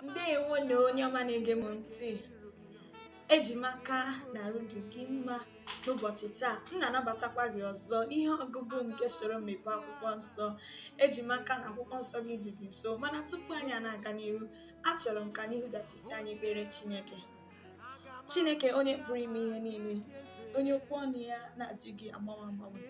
ndewo na onye ọma na-ege m ntị eji m aka na arụ dị gị mma n'ụbọchị taa m na-anabatakwa gị ọzọ ihe ọgụgụ nke soro m mepee akwụkwọ nsọ eji m aka na akwụkwọ nsọ gị dị gị nso mana tupu anyị na-aga n'iru achọrọ m ka anyị hudata isi anyị kpere Chineke chineke onye pụrụ ime ihe niile onye okwu ọnụ ya na-adịghị agbanwe agbanwe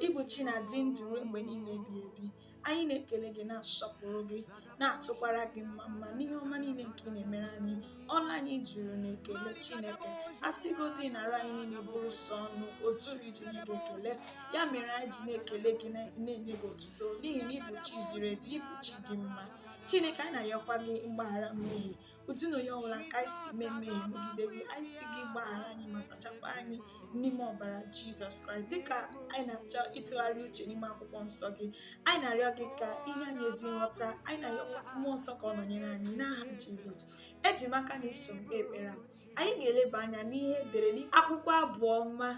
ị bụ chi na-adị ndụ ruo mgbe niile ebighị ebi anyị na-ekele gị na-asọpụrụ gị na-atụkwara gị mmamma n'ihe ọma niile nke ị na-emere anyị ọnụ anyị juru n'ekele chineke a sịgodị na arụ anyị niile bụrụ sọ ọnụ o zughị iji nye gị ekele ya mere anyị ji na-ekele gị na-enye gị otuto n'ihi na ị bụ chi ziri ezi ị bụ chi dị mma chineke anyị na-ayọkwa gị mgbaghara mmehie otu na onye ọbụla ka anyị si mee mmehie megide gị anyị sị gị gbaghara anyị ma sachakwa anyị n'ime ọbara jizọs kraịst dịka anyị na-achọ ịtụgharị uche n'ime akwụkwọ nsọ gị anyị na-arịọ gị ka i nye anyị ezi nghọta anyị na-arịọ mmụọ nsọ ka ọ nọnyere anyị n'aha jizọs eji m aka na i so m kpee ekpere anyị ga-eleba anya n'ihe e dere n'akwụkwọ Abụ Ọma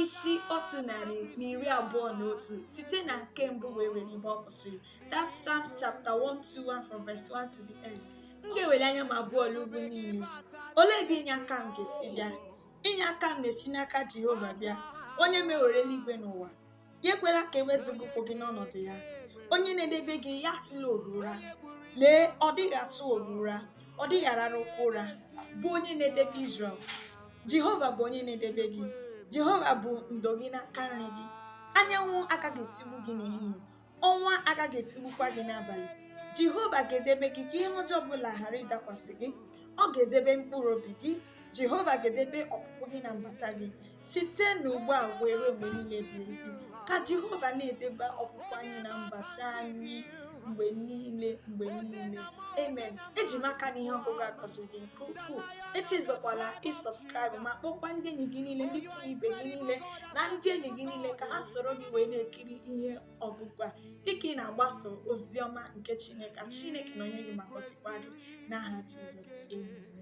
isi otu narị na iri abụọ na otu site na nke mbụ wee ruo ebe ọ kwụsịrị that's Psalms chapter 121 from verse 1 to the end m ga-eweli anya m abụọ lee ugwu niile olee ebe inye aka m ga-esi bịa inye aka m na-esi n'aka Jehova bịa onye mewere eluigwe na ụwa ya ekwela ka e wezụga ụkwụ gị n'ọnọdụ ya onye na-edebe gị ya atụla oru ụra lee ọ dịghị atụ oru ụra ọ dịghị ararụkwa ụra bụ onye na-edebe Izrel Jehova bụ onye na-edebe gị Jehova bụ ndo gị n'aka nri gị anyanwụ agaghị etigbu gị n'ehihie ọnwa agaghị etigbukwa gị n'abalị Jehova ga-edebe gị ka ihe ọjọọ ọbụla ghara ịdakwasị gị ọ ga-edebe mkpụrụ obi gị Jehova ga-edebe ọpụpụ gị na mbata gị Site n'ugbu a wee ruo mgbe niile ebighị ebi, ka Jehova na-edebe ọpụpụ anyị na mbata anyị mgbe niile mgbe niile amen eji m aka na ihe ọgụgụ a gọziri gị nke ukwuu echezọkwala ịsubscribe ma kpọkwa ndị enyi gị niile ndị ikwu na ibe gị niile na ndị enyi gị niile ka ha soro gị wee na-ekiri ihe ọgụgụ a dịka ị na-agbaso ozi ọma nke chineke chineke nọnyere gị ma gọzikwa gị n'aha jizọs amen